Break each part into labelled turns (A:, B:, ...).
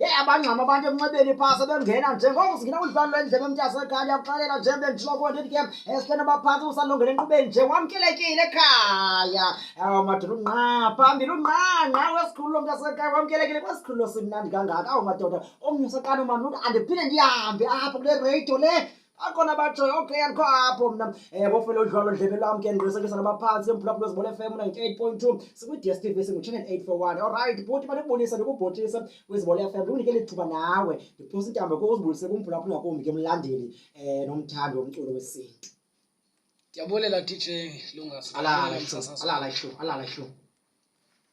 A: Yeyi abangxama abantu emnxebeni phaa sebengena nje ngoku singena ulifani lwendlebe mntasekhaya ndiyakuxelela nje bendiloko ndithi ke esihleni abaphantsi usalungela enkqubeni nje wamkelekile ekhaya aw madoda ungqa phambili ungqa ngqa wesikhululo mntasekhaya wamkelekile kwesikhululo simnandi kangaka aw madoda omnye usaqala umamntu andiphinde ndihambe apha kule radio le akhona abatshoyo okay andikho apho mna um eh, bofele udlwalo ndlebe lwam ke ndiqinisekisa nabaphantsi emphulaphula zibona fm ninety-eight point two sikwi-ds t v singuchannel eight four one olrayight bhuti mandikubonise ndikubhotise kwizibona fm ndikunike lithuba nawe ndiphosa intambo ke uzibulise kumphulaphula ngakumbi ke mlandeli um nomthandi womculo wesintu ndiyabulela
B: dj lungasalala
A: ihlu alala ihlu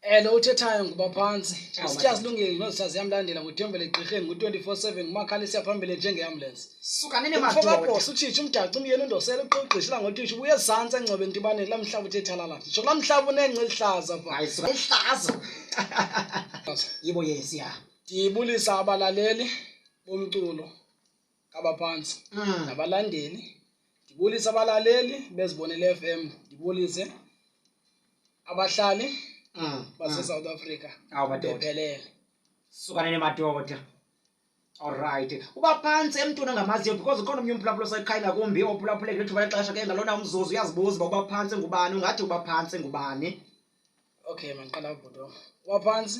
A: Elo
B: uthethayo nguba phantsi. Oh, Asitya silungile nosa ziyamlandela ngothembele egqirheni ngo-24/7 ngumakhalisi yaphambili njengeambulensi. Suka nene Mfo madoda.
A: kaBhosa utshitsha umdaci
B: umyeni undosela uqogqisha ilanga uthisha ubuye ezantsi engcobe ntibaneni laa mhlaba uthe thalala. Nditsho kulaa mhlaba unengca elihlaza pha. Hayi suka ihlazo.
A: Yibo yesi ya. Ndibulisa
B: abalaleli bomculo kabaphantsi mm. nabalandeli ndibulise abalaleli bezibonele f m ndibulise abahlali mm. basesouth mm. africa bephelele sukane
A: nemadoda olrayithi uba phantsi emntwini ongamaziyo because ukhona omnye umphulaphula osekhayela kumbi ophulaphuleke lithuba lexesha ke ngalona umzuzu uyazibuza uba uba phantsi ngubani ungathi uba phantsi ngubani okay
B: mandiqala ubhuto uba phantsi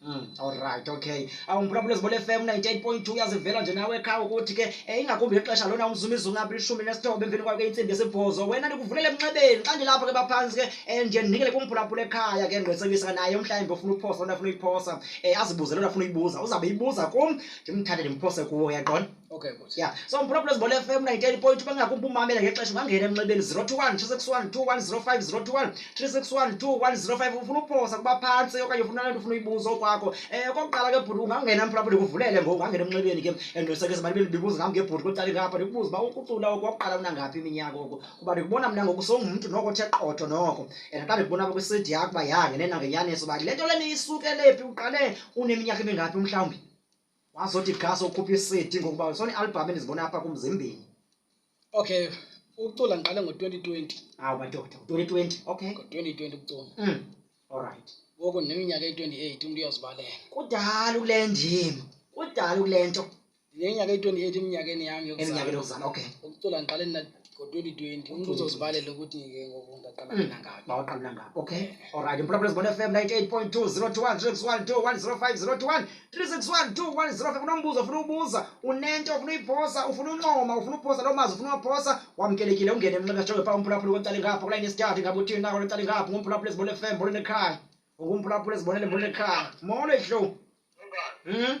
A: Mm, alright okay awumphulaphulezi bol fm 98.2 uyazivela nje nawe ekhaya ukuthi ke eh, ingakumbi ngexesha lona umzumizi ungaphi lishumi nesithoba emveni kwakho intsimbi yesibhozo wena ndikuvulele emnxebeni xa ndilapho ke baphantsi ke um nje ndinikele kumphulaphula ekhaya ke ngqwesekisa naye umhlawumbi ofuna uphosa lona afuna uyiphosa um azibuze lona afuna uyibuza uzawube ibuza kum ndimthathe ndimphose kuwo yaqona okay bhuti
B: ya so mphulaphula ezibhola
A: fm 98 point bangakumbi umamela ngexesha ungangena emnxebeni 021 361 2105 021 361 2105 ufuna uphosa kuba phantsi okanye ufuna lento ufuna uyibuza okwakho um okokuqala ke bhuti ungangena mphulaphula ndikuvulele ngoku ungangena emnxebeni ke endosekeza abantu bendibibuza ngam ngebhuti kwecala ngapha ndikubuza uba ukucula oku wakuqala unangaphi iminyaka oku kuba ndikubona mna ngoku songumntu noko othe qotho noko and xa ndikubona apha kwisidi yakho uba ya ngenena ngenyaniso uba le nto le niyisukelephi uqale uneminyaka emingaphi umhlawumbi wazothi gas okhupha i-cd ngokuba sona i-albhamu endizibona apha kumzimbini okay
B: ukucula ngiqale ngo-twenty twenty awu ah, madoda ngo-twenty
A: twenty okay ngo-twenty twenty ukucula mm.
B: allright
A: ngoku neminyaka
B: eyi-twenty eight umntu uyozibalela kudala ukule
A: ndima kudala ukule nto ndinenyaka eyi-twenty
B: eight eminyakeni yam yokueminyakeni yokuzana okay
A: ukucula ngiqale
B: ngo-2020 umntu uzozibalela ukuthi ke ngoku ndaqala hmm. mina ngaphi
A: mawaqala mina ngaphi okay alright imphulaphula zibona fm 98.202136102105021 3612105 unombuzo ufuna ubuza unento ufuna uyiphosa ufuna uncoma ufuna uphosa loo mazi ufuna uwaphosa wamkelekile ungene emnxeba jonge phaa umphulaphula kontali ngapha kula inesithathu ngabe uthini nako lontali ngapha ngumphulaphula zibona fm mbona nekhaya ngumphulaphula zibonele mbona nekhaya molo ihlow um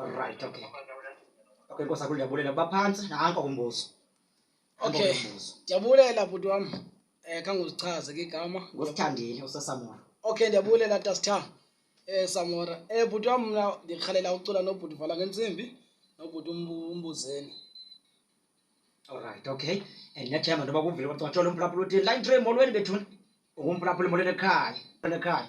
A: alright okay okay nkosi akulu ndiyabulela baphantsi nanko umbuzo okay
B: ndiyabulela bhuti wam um eh, khanguzichaze ke igama ngosithandile usesamora
A: okay ndiyabulela
B: tasitha um eh, samora um eh, bhuti wam mna ndirhalela ucula nobhuti vala ngentsimbi nobhuti umbuzeni
A: olright okay and nethemba ntoba kuvile kwacola umphulaphula uthini line tray molweni bethuni ungumphulaphula molweni ekhaya ekhaya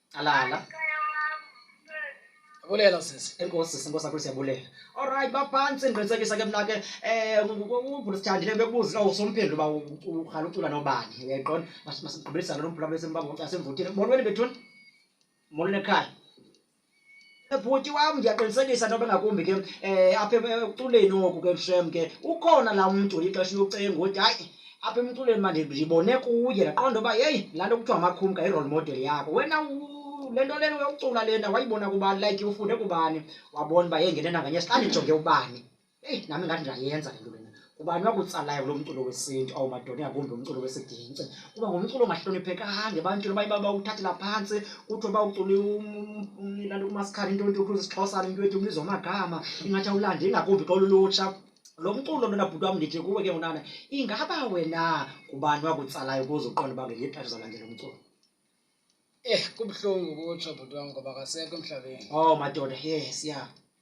A: Alala.
B: Bulela sisi. Enkosi sisi Nkosi akhulise yabulela.
A: All right baphantsi ndiqinisekisa ke mna ke eh ubhuti sithandile bekubuza ka usomphendlo ba ukhala ucula nobani. Uyayiqonda? Masigqibelisa lo mbhula bese mbamba asemvuthile. Molweni bethuni. Molweni ekhaya. bhuti wam ndiyaqinisekisa ntoba ngakumbi ke um apha ekuculeni oku ke shem ke ukhona laa mntu lixesha locenga ukuthi hayi apha emculweni mandibone kuye ndaqonda uba yeyi laa nto kuthiwa makhumka i-role model yakho wena le nto lena yokucula lena wayibona kubani like ufunde kubani wabona uba yengene nanganye sihlale ndijonge ubani eyi nami ngathi ndayenza le nto lena kubani wakutsalayo kulo mculo wesintu awu madoda ingakumbi umculo wesigingci kuba ngumculo ongahloniphekanga ebantwini baye bawuthathela phantsi kuthiwe bawucule lanto umasikhala into nto kuthiwe sisixhosana into ethi umbizo amagama ingathi awulande ingakumbi xa ululutsha lo mculo lona bhuti wam ndithi kuwe ke ngonana ingaba wena kubani wakutsalayo ukuze uqonda uba ngelinye ixesha uzalandela umculo Eh kubuhlungu
B: kutsho bhuti wam ngoba akasekho emhlabeni. Oh madoda
A: yes ya.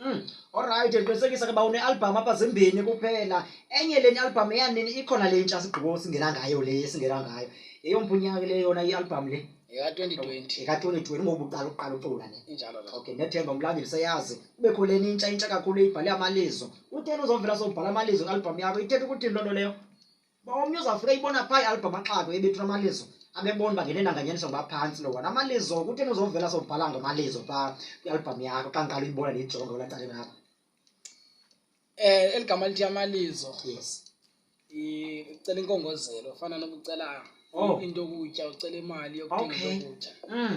B: Mm. Alright,
A: ndiqinisekisa ke uba unealbham apha zimbini kuphela. Enye le albham eyanini ikhona le ntsha sigqibo singena ngayo le singena ngayo. Yeyomphi unyaka le yona ialbham le?
B: Eka-2020. Eka-2020 ngoku uqala
A: uqala ucula ne. Injalo lo. Okay, nethemba
B: umlandeli
A: seyazi. Kubekho le nintsha intsha kakhulu ibhale amalizo. Utheni uzovela sobhala amalizo ngalbham yakho. Ithetha ukuthi into leyo. uba omnye uzawufika ibona phaa ialbham amaxato ebethu amalizo abebona uba ngene nanganyaniso ngoba phantsi lo wona amalizo kutheni uzovela sobhala ngamalizo phaa kwialbham yakho xa ngiqala uyibona ndiyijonga kula cale lakho um eli
B: gama lithi amalizo yes ucela inkongozelo fana nokucela oh. into yokutya ucela imali yokuthenga into yokutya mm.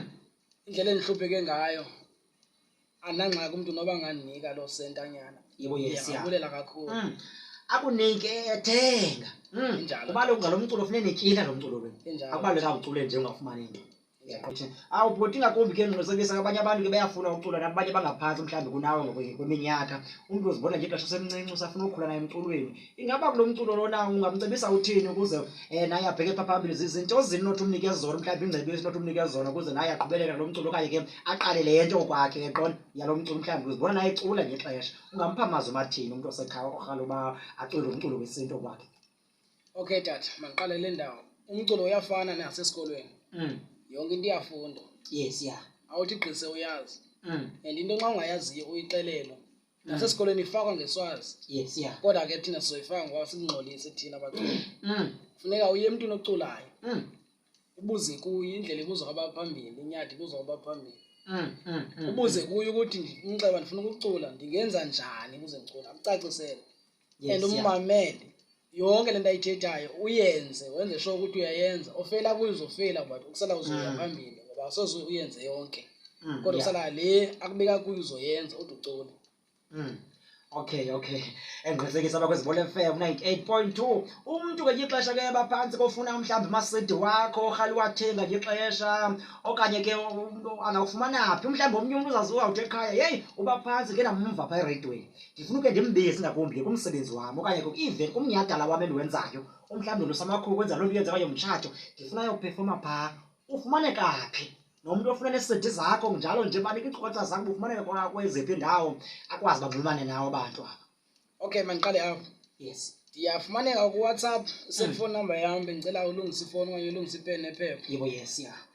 B: indlela endihlupheke ngayo andinangxaki umntu noba ngandinika loo sentanyana yebo yesiyabulela
A: kakhulu mm.
B: akunike
A: ethenga mm. injalo ubaluleke
B: ngalo mculo funeka
A: netyila lo mculo wenu akubalulekanga ucule nje
B: ungafumani
A: nto awubhoti ngakumbi ke ndiqinisekisa abanye abantu ke bayafuna ucula nabanye bangaphantsi mhlawumbi kunawe ngokweminyaka umntu uzibona nje ixesha semncinci usafuna ukhula naye emculweni ingaba kulo mculo lona ungamcebisa uthini ukuze um naye abheke pha phambili zizinto zini nothi umnike zona mhlawumbi ingcebiso nothi umnike zona ukuze naye aqhubelele lo mculo okanye ke aqale le nto okwakhe eqona yalo mculo mhlawumbi uzibona naye ecula ngexesha ungampha mazwi mathini umntu osekhaya orhala uba acule lo mculo wesintu okwakhe okay
B: tata mandiqale le ndawo umculo uyafana nasesikolweni mm. yonke into iyafundwa yes ya
A: awuthi gqise
B: uyazi mm. and into nxa ungayaziyo uyixelelwa nasesikolweni ifakwa ngeswazi yes yeah kodwa ke
A: thina sizoyifaka
B: ngoba sikungxolise thina baculi mm. funeka uye emntwini oculayo mm. ubuze kuye indlela ibuzwa kwabaphambili inyadi ibuzwa kwabaphambili mm, mm, mm, ubuze kuye ukuthi umnxeba ndifuna ukucula ndingenza njani ukuze ndicula akucacisele Yes, and yeah. ummamele yonke le nto ayithethayo uyenze wenze sure ukuthi uyayenza ofela kuyo uzofela but ukusala uzoya Mm. phambili ngoba asoze uyenze yonke Mm, kodwa yeah. usala le akubeka kuyo uzoyenza ude ucole Mm.
A: Okay, okay. Engqinisekisa abakwezibole FM 98.2. Umuntu ngelinye ixesha ke baphantsi kofuna umhlawumbi umasidi wakho orhali wathenga ngelinye ixesha okanye ke umntu angawufumana phi umhlawumbi omnye umntu uzaziwa uthi ekhaya yeyi uba phantsi ke namva phaa eredweni ndifuna uke ndimbezi ngakumbi ke kumsebenzi wam okanye even kumnyadala wam endiwenzayo umhlawumbi ndosamakhulu kwenza loo nto yenza okanye mtshato ndifuna yokuphefoma phaa ufumaneka phi nomntu ofuna nesidi zakho njalo nje banika iinkcukacha zakho bufumaneka kweziphi indawo akwazi banxulumane nawo abantu aba okay mandiqale
B: apho yes
A: ndiyafumaneka
B: kuwhatsapp selfone number yam bendicela
A: ulungisa
B: ifowuni okanye ulungisa ipeni nephepha
A: yebo
B: yes ya yeah.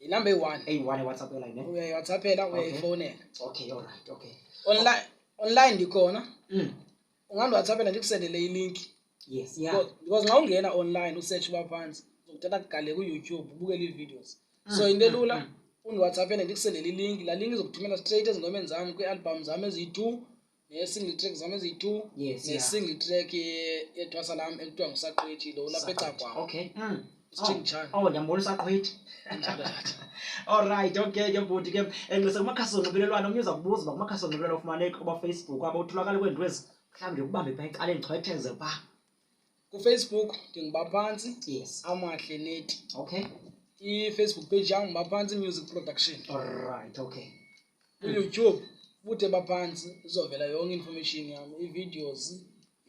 A: inumber eyi-one
B: eyi-one ewhatsapp yona
A: yine uyayewhatsappela Okay. uyayifowunela
B: okay alright
A: okay online online
B: ndikhona mm. ungandiwhatsappela ndikusendele ilinki yes yeah Because-
A: because xa ungena
B: online usearch uba phantsi uzokuthatha kugale kuyoutube ubukele ii-videos Mm, so into mm, elula mm. undiwhatsappele ndikusendele ilinki laa linki izokuthumela straight ezingomeni zam kwii-albham zam eziyi-two ne-single track zam eziyi-two Yes, yeah. ne-single track ye- yethwasa lam ekuthiwa ngusaqethi lo ulapha ecakwam okay mm.
A: Sitshing chan.
B: oh ndiyambona usaqhwithi
A: Injalo tata. olright okay ke bhuti ke enxise kumakhasi onxibelelwano omnye uza kubuza uba kumakhasi onxibelelwano ufumaneka kubafacebook aba utholakala kweentwezi mhlawumbi ndikubambe pha eqaleni chwetheze pha kufacebook
B: ndinguba phantsi yes amahle
A: neti
B: okay
A: ifacebook
B: page yam nguba phantsi music production alright
A: okay uyoutube
B: bude baphantsi izovela yonke information yam ivideos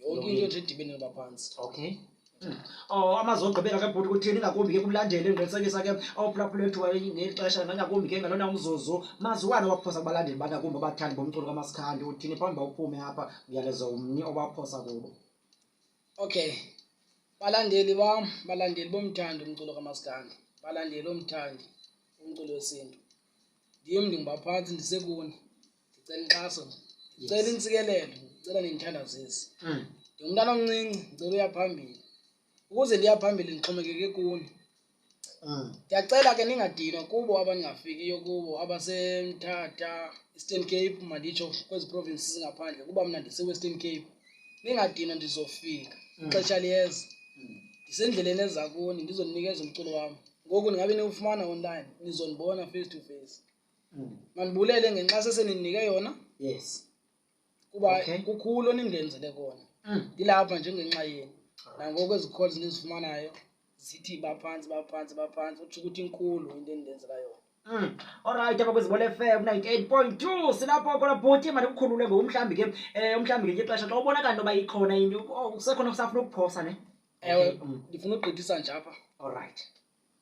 B: yonke into nje edibene noba phantsi okay
A: Oh amazwi ogqibela ke bhuti kuthini ngakumbi ke kumlandeli endiqinisekisa ke ophulaphula ethu ngeli xesha nangakumbi ke ngalona umzuzu maziwane waphosa kubalandeli banakumbi abathandi bomculo kamasikhandi uthini phambi uba uphume apha uyalezo umni obaphosa kubo okay
B: balandeli bam balandeli bomthandi umculo kamaskandi balandeli omthandi umculo wesintu ndim ndingubaphathi ndisekuni ndicela inkxaso ndicela intsikelelo ndicela nendithandazisi mm. ndingumntana omncinci ndicela uyaphambili ukuze ndiyaphambili ndixhomekeke kuni Mm. Ndiyacela ke ningadinwa kubo abaningafikiyo kubo abaseMthatha, Eastern Cape manditsho kwezi provinces zingaphandle kuba mna ndiseWestern Cape. Ningadinwa ndizofika mm. ixesha liyeza. Mm. Ndisendleleni eza kuni ndizoninikeza umculo wam. Ngoku ndingabe niwufumana online nizondibona face to face. Mandibulele ngenkxaso eseninike yona. Yes.
A: kuba
B: Okay. kukhulu onindenzele kona Mm. ndilapha njengenxa yenu nangoku ezi calls ndizifumanayo zithi baphantsi baphantsi baphantsi utsho ukuthi inkulu into endenzela yona Mm. Alright apha kwizibole
A: FM 98.2 silapho khona bhuti mandikukhulule ngoku mhlawumbi ke eh umhlawumbi ngenye ixesha xa ubona kanti uba ikhona into oh, kusekhona kusafuna ukuphosa ne ewe Okay, mm.
B: ndifuna ukugqithisa nje apha Alright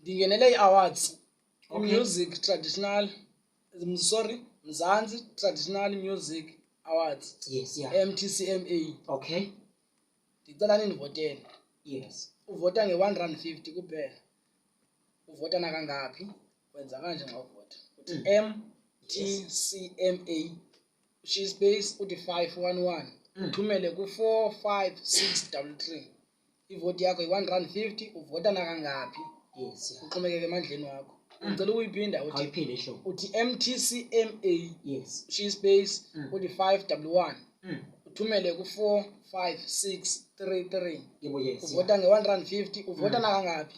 A: ndingenele
B: ii-awards Okay. music traditional sorry mzansi traditional music awards yes yeah
A: mtcma okay ndicela
B: nindivotele yes
A: uvota nge-one rand
B: fifty kuphela uvota nakangaphi wenza kanje nxa uvota uthi mm. m t c m a ushiye ispace uthi five one one mm. uthumele ku-four five six double three ivoti yakho yi-one rand fifty uvota nakangaphi yes yeah. uxhomekeke
A: emandleni
B: wakho Mm. ngicela ukuyiphinda uthi ayiphinde ehlobo uthi mtcma yes shiyi
A: space Mm.
B: uthi five double one Mm. uthumele ku-four five six three three yebo yes uvota
A: nge-one rand fifty
B: uvota nakangaphi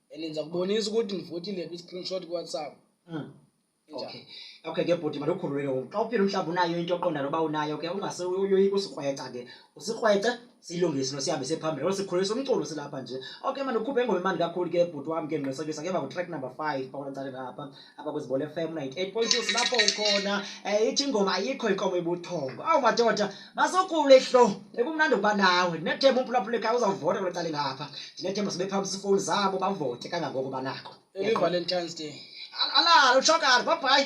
B: and
A: ndiza kubonisa
B: ukuthi ndivotile kwi-screenshot kuwhatsapp mm. okay
A: okay ke bhuti mandikhululeke ngoku xa uphila umhlawumbi unayo into oqonda noba unayo ke ungase uyoyika usikrweca ke usikrwece siyilungise nosihambe sephambili olo sikhulisa umculo silapha nje okay mandikhuphe engoma imandi kakhulu ke bhuti wam ke ngqinisekisa ke baku-track number five pakulacaleni apha apha kwizibhola fm 98.2 silapho ukhona um ithi ingoma ayikho inkomo ebuthongo awu madoda masokhule hlo ekumnandi ukuba nawe ndinethemba umphulaphula ekhaya uzawuvota kule cala engapha ndinethemba sibe phambi sifowuni zabo bavote kangangoko banako evalentine's day
B: alalo
A: utshokani babhayi